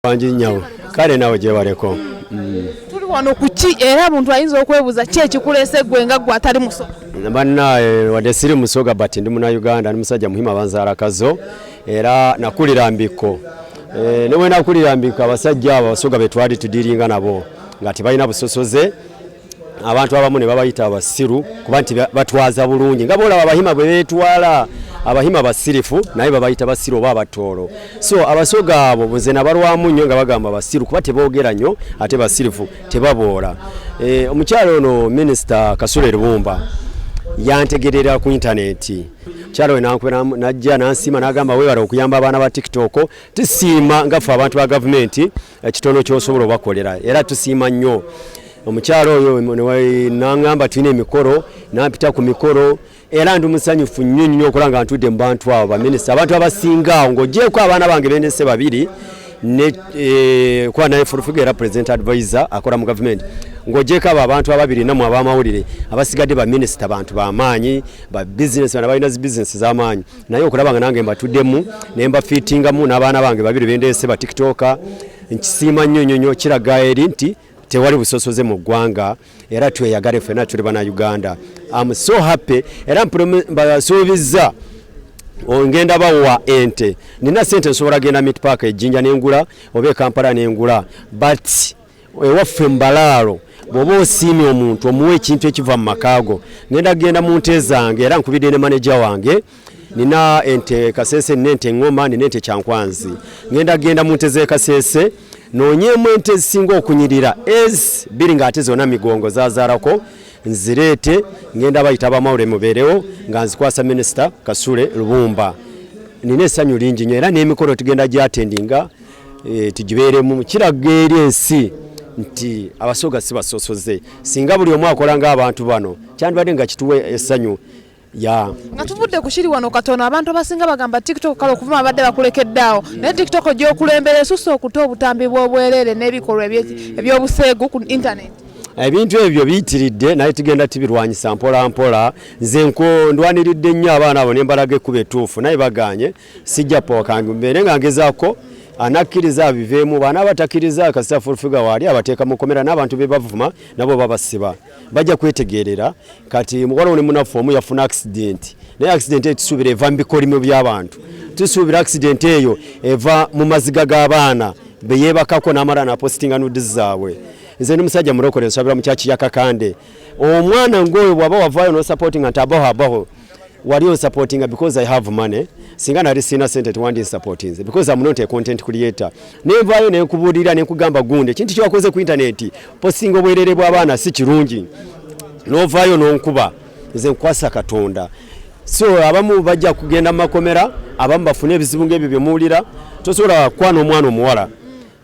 bangi nyawe kale nawe gyebaleko mm. tuli wano kuki era muntu ayinza okwebuuza ki ekikulese gwe nga gwe atali musoga bannaye wadde siri musoga but ndi muna uganda ndi musajja muhima banzalakazo era nakulira mbikko eh, newenakulira mbikko abasajja abo abasoga betwali tudiringa nabo nga tebalina busosoze abantu abamu ne babayita abasiru kuba nti batwaza bulungi nga boolaba abahima bwe beetwala abahima basirifu naye babayita basiru oba abatoolo so abasoga abo nze nabalwamu nnyo nga bagamba basiru kuba teboogera nnyo ate basirifu tebaboola eh, omukyalo ono minisita kasule lubumba yantegerera ku intaneti kyalo wenankwera najja nansiima nagamba webala okuyamba abaana ba tiktok tisiima ngaffe abantu ba gavumenti ekitono kyosobola obakolera era tusiima nnyo omukyalo oyo nangamba tulina emikolo nampita ku mikolo era ndi musanyufu nnyo nnyo okola nga ntudde mu bantu abo baminisita abantu abasinga awo ng'ogyeko abaana bange bendese babiri Eh, kuba naye furufiga era president advisor akola mu gavumenti ng'ogyeko abo abantu ababiri namwe ab'amawulire abasigadde baminisita bantu bamaanyi babizinesi bana balina zi bizinesi z'amaanyi naye okulaba nga nange mbatuddemu ne mbafiitingamu n'abaana bange babiri bendeese ba tiktoka nkisiima nnyo nnyo nnyo kiraga eri nti tewali busosoze mu ggwanga era tweyagale ffena tuli bana uganda am so happy era mbasuubizza ngenda bawa ente nina sente nsobola genda mitpaaka ejjinja nengula oba ekampala nengula but ewaffe mbalaalo bw'oba osiimye omuntu omuwa ekintu ekiva mu maka go ngenda kugenda mu nte zange era nkubidde ne maneja wange nina ente kasese nina ente ngoma nina ente kyankwanzi ngenda kugenda mu nte z'ekasese noonyeemu ente ezisinga okunyirira ez biri ng'ate zona migongo zazaarako nzireete ngenda bayita abamawule mubeerewo nga nzikwasa minisita kasule lubumba nina essanyu lingi nyo era n'emikolo tugenda gyatendinga e, tugibeeremu kiraga eri ensi nti abasoga si basosoze singa buli omu akola ng'abantu bano kyandibadde nga kituwa essanyu ya nga tuvudde ku kiri wano katono abantu abasinga bagamba tiktok kale okuvuma abadde bakulekedde awo naye tiktok gyokulembera esusa okuta obutambi bw'obwereere n'ebikolwa eby'obuseegu ku intaneti ebintu ebyo biyitiridde naye tugenda tubirwanyisa mpola mpola nze ndwaniridde nnyo abaana abo nembalaga ekkuba etuufu naye baganye sijja pooka mbeere nga ngezaako anakkiriza abiveemu baana abatakiriza kasita fulfiga waali abateeka mukomera n'abantu be bavuma nabo babasiba bajja kwetegeerera kati mukwalawo ne munaffe omu yafuna akisidenti naye akisidenti eyo tusuubira eva mu bikolimo by'abantu tusuubira akisidenti eyo eva mu maziga g'abaana be yeebakako n'amala napositinga nudi zaabwe nze ndi musajja mulokole nsabira mu kyaki yakakande omwana ng'oyo bw'aba wavaayo n'osapotinga nti abaho abaho wali on supporting because i have money singa nali sina sente tewandi supporting because i'm not a content creator nenvayo nenkubulira nenkugamba gunde kintu kyakoze ku internet posting obwerere bwa bana si kirungi novayo nonkuba nze nkwasa katonda so abamu bajja kugenda makomera abamu bafune ebizibu ngebyo byemuwulira tosobola kwana omwana omuwala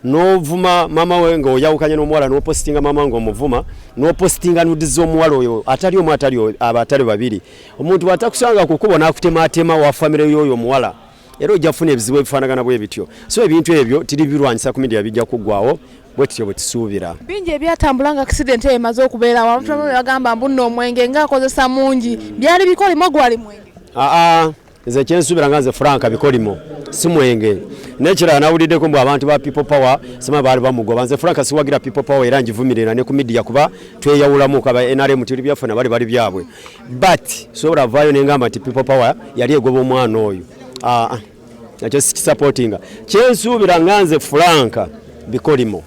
n'ovuma maama we nga oyawukanye n'omuwala n'opositinga maama nga omuvuma n'opositinga nudi z'omuwala oyo atali omu atali aba atali babiri omuntu bwatakusanga ku kkubo n'akutemaatema wa famire y'oyo omuwala era ojja kufuna ebizibu ebifaanagana bwe bityo so ebintu ebyo tiri birwanyisa ku midia bijja kuggwawo bwe tutyo bwe tusuubira bingi ebyatambula nga akisidenti eyo emaze okubeera abantu abamu ne bagamba mbunna omwenge ng'akozesa mungi byali bikolimo gwali mwenge aa nze kyensubira nga nze franka bikolimo simwenge nekirala nawuliddeko mbu abantu ba people power sima baali bamugoba nze franka siwagira people power era ngivumirira ne ku midiya kuba tweyawulamu kaba nrm tuli byaffe nabali bali byabwe but sobola vaayo nengamba nti people power yali egoba omwana oyo ah, ah. nakyo sikisupportinga kyensuubira nga nze franka bikolimo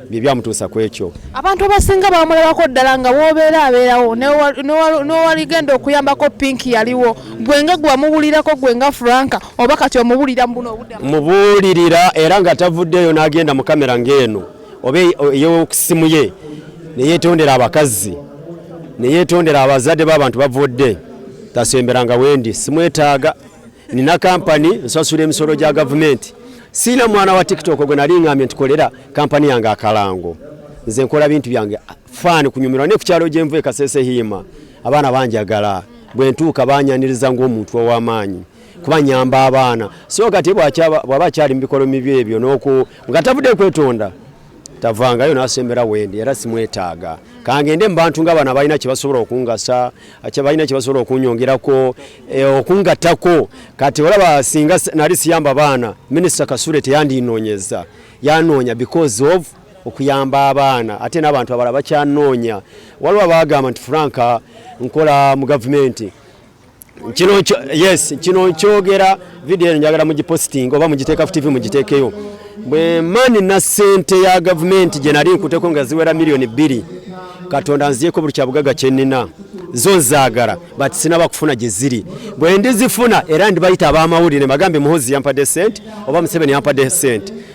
bye byamutuusa ku ekyo. Abantu abasinga bamulabako ddala nga w'obeera abeerawo n'owaligenda okuyambako pinki yaliwo gwe nga gwe wamubuulirako gwe nga Frank oba kati omubuulira mu buno obudde mubuulirira era nga tavuddeeyo n'agenda mu kamera ng'eno oba ey'okusimu ye ne yeetondera abakazi ne yeetondera abazadde b'abantu bavudde tasemberanga wendi simwetaaga nina kampani nsasula emisolo gya gavumenti Siina mwana wa TikTok gwe nali ngambye nti kolera kampani yange akalango. Nze nkola bintu byange faani kunyumirwa ne ku kyalo gye nvu e Kasese Hiima. Abaana banjagala bwe ntuuka banyaniriza ng'omuntu ow'amaanyi kuba nyamba abaana. So kati bw'aba akyali mu bikolwa mibi ebyo n'oku nga tavudde kwetonda tavangayo nasembera wendi era simwetaaga kangende mubantu nga bano abalina kyebasobola okungasa balina kyebasobola okunyongerako eh, okungatako kati olaba singa nali siyamba baana minisita kasule teyandinonyeza yanoonya because of okuyamba abaana ate n'abantu abala bakyanoonya waliwo abagamba nti franka nkola mu gavumenti kino yes kino nkyogera video eno njagala mugipositinga oba mugiteeka ku tv mugiteekeyo bwe mani na sente ya gavumenti gye nali nkuteko nga ziwera miliyoni bbiri katonda nziyeko buli kyabugaga kyenina zo nzaagala but sinaba kufuna gye ziri bwe ndizifuna era ndibayita ab'amawulire bagambe muhozi yampadde sente oba museveni yampadde sente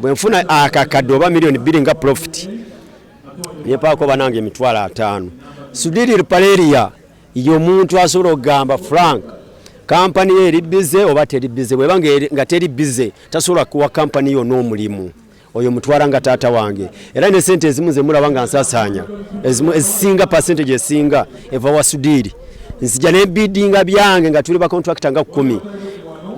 bwe nfuna akakadde oba miliyoni bbiri nga profiti nepaako banange emitwalo ataano sudiri ripaleria yomuntu asobola okugamba frank kampani yo eri bize oba teri bize bweba nga teri bize tasobola kuwa kampani yo n'omulimu oyo mutwala nga taata wange era ne sente ezimu zemulaba nga nsasaanya ezimu ezisinga percentage esinga eva wa sudiri nzija nebidinga byange nga tuli bakontrakita nga kumi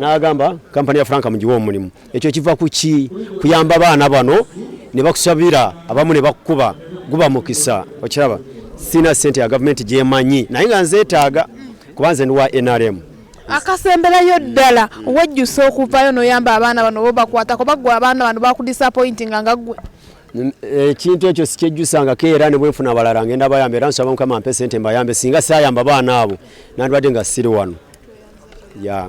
nagamba kampani ya franka mugiwa omulimu ekyo kiva ku ki kuyamba baana bano ne bakusabira abamu ne bakukuba guba mukisa okiraba sina sente ya gavumenti gyemanyi naye nga nzeetaaga kuba nze ndi wa nrm akasemberayo ddala wejjusa okuvayo noyamba abaana bano bobakwatako bagwe abaana bano bakudisapointinga nga gwe ekintu ekyo sikyejjusangako era ne bwenfuna abalala ngenda bayamba era nsaba mukama mpe sente mbayambe singa sayamba baana abo nandibadde nga siri wano ya